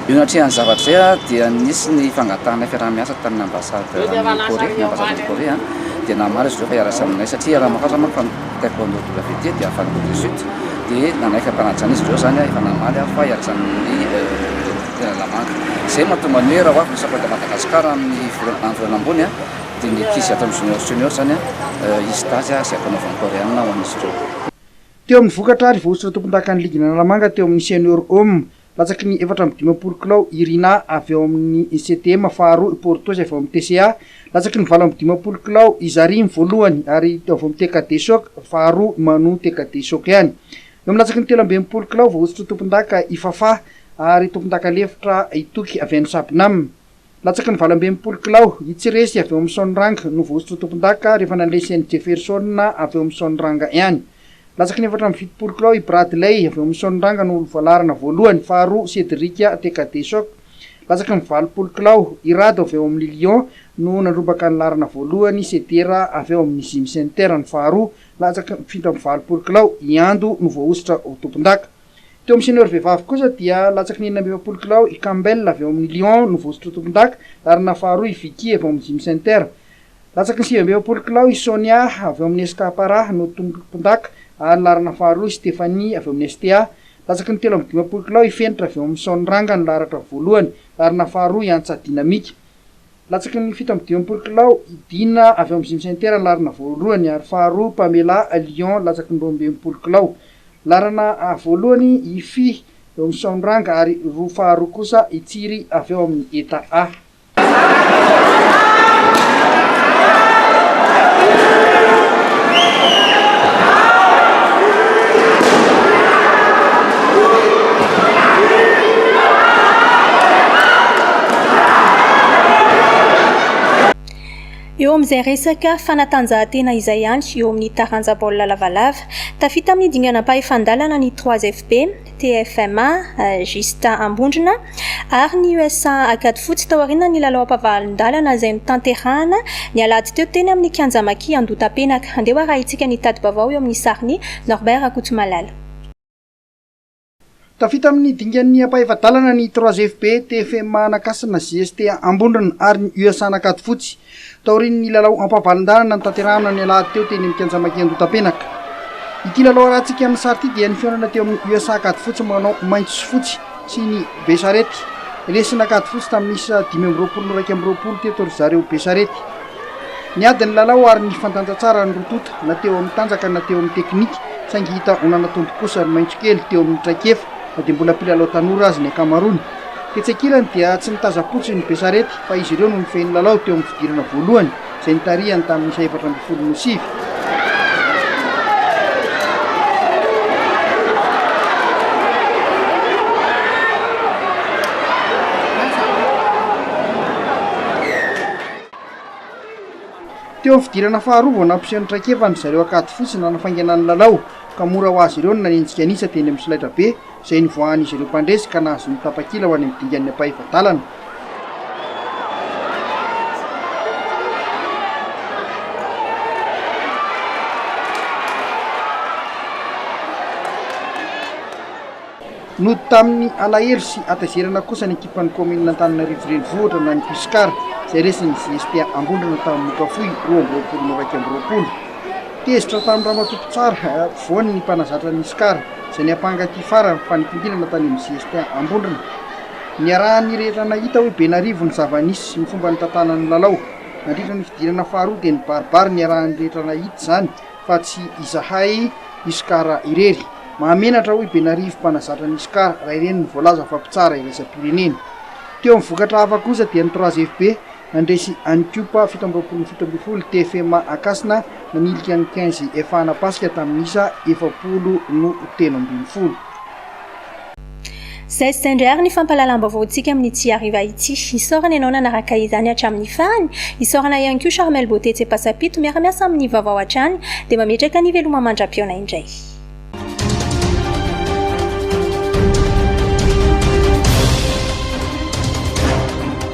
Eo anatrehan'ny zavatra izay dia nisy ny fangatahanay fiaraha-miasa tamin'ny ambasady any Corée, ny ambasady any Corée dia namaly izy ireo fa hiarahasa aminay satria hiaraha-mahantra manko Taekwondo WT dia avy any Corée du Sud dia nanaiky hampanajana izy ireo izany aho, efa namaly aho fa ianjann'ny tena lamandy. Izay no mahatonga ny hoe raha ho avy ny Sampdoria Madagascar amin'ny volana amin'ny volana ambony dia ny ankizy ato amin'ny Junior Senior izany hisy dazy izay hampanaovan'ny Koreana ho an'izy ireo. Teo amin'ny vokatra ary voahosotra tompondakan'ny ligin'Analamanga teo amin'ny Senior Homme Latsaky ny efatra amby dimampolo kilao i Rina avy ao amin'ny CTM faharoa, i Portos avy ao amin'ny TCA. Latsaky ny valo amby dimampolo kilao i Zarim voalohany ary avy ao amin'ny TKD Choc faharoa manohy TKD Choc ihany. Eo amin'ny latsaky ny telo amby enimpolo kilao voahosotra ho tompondaka i Fafah ary tompondaka lefitra i Toky avy any Sabnam. Latsaky ny valo amby enimpolo kilao, i Tsiresy avy ao amin'ny Sôniranga no voahosotry ny tompondaka rehefa nandresy an'i Jeffersona avy ao amin'ny Sôniranga ihany. Latsaky ny efatra amby fitopolo kilao, i Bradley avy ao amin'ny Sôniranga no olo-voalarana voalohany, faharoa Cedric Tekadesoc. Latsaky ny valopolo kilao, i Rado avy ao amin'ny Lion no nandrombaka ny laharana voalohany, Sedera avy ao amin'ny Gym Center no faharoa, latsaky ny fito amby valopolo kilao, i Ando no voahosotra ho tompondaka. Teo amin'ny senior vehivavy kosa dia latsaky ny enina amby efapolo kilao i Campbell avy ao amin'ny Lyon no voazotroy tompondaka ary na faharoa i Vicky avy ao amin'ny Gym Center. Latsaky ny sivy amby efapolo kilao i Sonia avy ao amin'ny SK Para no tompondaka ary laharana faharoa i Stephanie avy ao amin'ny STA. Latsaky ny telo amby dimampolo kilao i Fenitra avy ao amin'ny Son Ranga no laharatra voalohany, laharana faharoa i Antsa Dynamique. Latsaky ny fito amby dimampolo kilao i Dina avy ao amin'ny Gym Center Anarina voalohany ary faharoa Pamela Lion latsaky ny roa amby enimpolo kilao. Laharana voalohany i Fy eo amin'ny Saoniranga ary roa faharoa kosa i Tsiry avy ao amin'ny Eta A. Eo amin'izay resaka fanatanjahantena izay ihany, eo amin'ny taranja baolina lavalava, tafita amin'ny dinganam-pahefan-dalana ny Trois FB, TFMA, Gista Ambondrona ary ny USA Ankadifotsy taorian'ny lalaom-pavahalin-dalana izay notanterahana ny alahady teo teny amin'ny kianja Maki Andohatapenaka. Andeha ho arahintsika ny tati-baovao eo amin'ny sarin'i Norbert Rakotomalala. Tafita amin'ny dingan'ny ampahefa-dalana ny Trois FB, TFMA Anakasina, GST Ambondrona ary ny USA Anakatofotsy, taorian'ny lalao ampavalon-dalana notanterahana ny alahady teo teny amin'ny kianja Maki Andotapenaka. Ity lalao arahantsika amin'ny sary ity dia nifihaonana teo amin'ny USA Ankadifotsy manao maitso sy fotsy sy ny Besarety Lesona Ankadifotsy tamin'ny isa dimy amby roapolo no iraika amby roapolo teto ry zareo Besarety. Niady ny lalao ary nifandanja tsara ny roa tonta na teo amin'ny tanjaka na teo amin'ny teknika saingy hita ho nanatombo kosa ny maitsokely teo amin'ny traikefa na dia mbola mpilalao tanora aza ny ankamaroany. Tetsy ankilany dia tsy nitazam-potsiny ny Besarety fa izy ireo no nifehy ny lalao teo amin'ny fidirana voalohany izay nitarihany tamin'ny isa efatra ambin'ny folo no sivy. Teo amin'ny fidirana faharoa vao nampiseho ny traikefa ny zareo ankady fotsy nanafaingana ny lalao ka mora ho azy ireo ny nanenjika an'isa teny amin'ny solaitrabe izay nivoahan'izy ireo mpandresy ka nahazoany ny tapakila ho any amin'ny dingan'ny ampahefa-dalana. Nody tamin'ny alahelo sy hatezerana kosa ny ekipan'ny kaominina Antananarivo Renivohitra na ny Cuscar izay resin'ny JSPA Ambondrona tamin'ny Mokafohy roa amby roapolo no iraika amby roapolo. Tezitra tamin'ny ramatoa mpitsara afovoany ny mpanazatra ny Cuscar izay niampanga ity farany fanimpindirana tany amin'ny JSPA Ambondrona. Niarahan'ny rehetra nahita hoe be n'arivo ny zava-nisy sy ny fomba nitantanan'ny lalao. Nandritra ny fidirana faharoa dia nibaribary niarahan'ny rehetra nahita izany. fa tsy izahay Iscar irery. Mahamenatra hoy Benarivo mpanazatra ny Iscar raha ireny no voalaza fa mpitsara iraisam-pirenena. Teo amin'ny vokatra hafa kosa dia ny Trois FB nandresy an'i Cup fito amby roapolo fito ambin'ny folo, TFMA Ankasina nanilika ny Quinze Efa Hanapasika tamin'ny isa efapolo no telo ambin'ny folo. Zay sy zay indray ary ny fampahalalam-baovaontsika amin'ny Tsy Hariva ity. Isaorana ianao nanaraka izany hatramin'ny farany. Isaorana ihany koa Charmel Beauté Tsepasapito miara-miasa amin'ny vaovao hatrany dia mametraka ny veloma mandra-pihaona indray.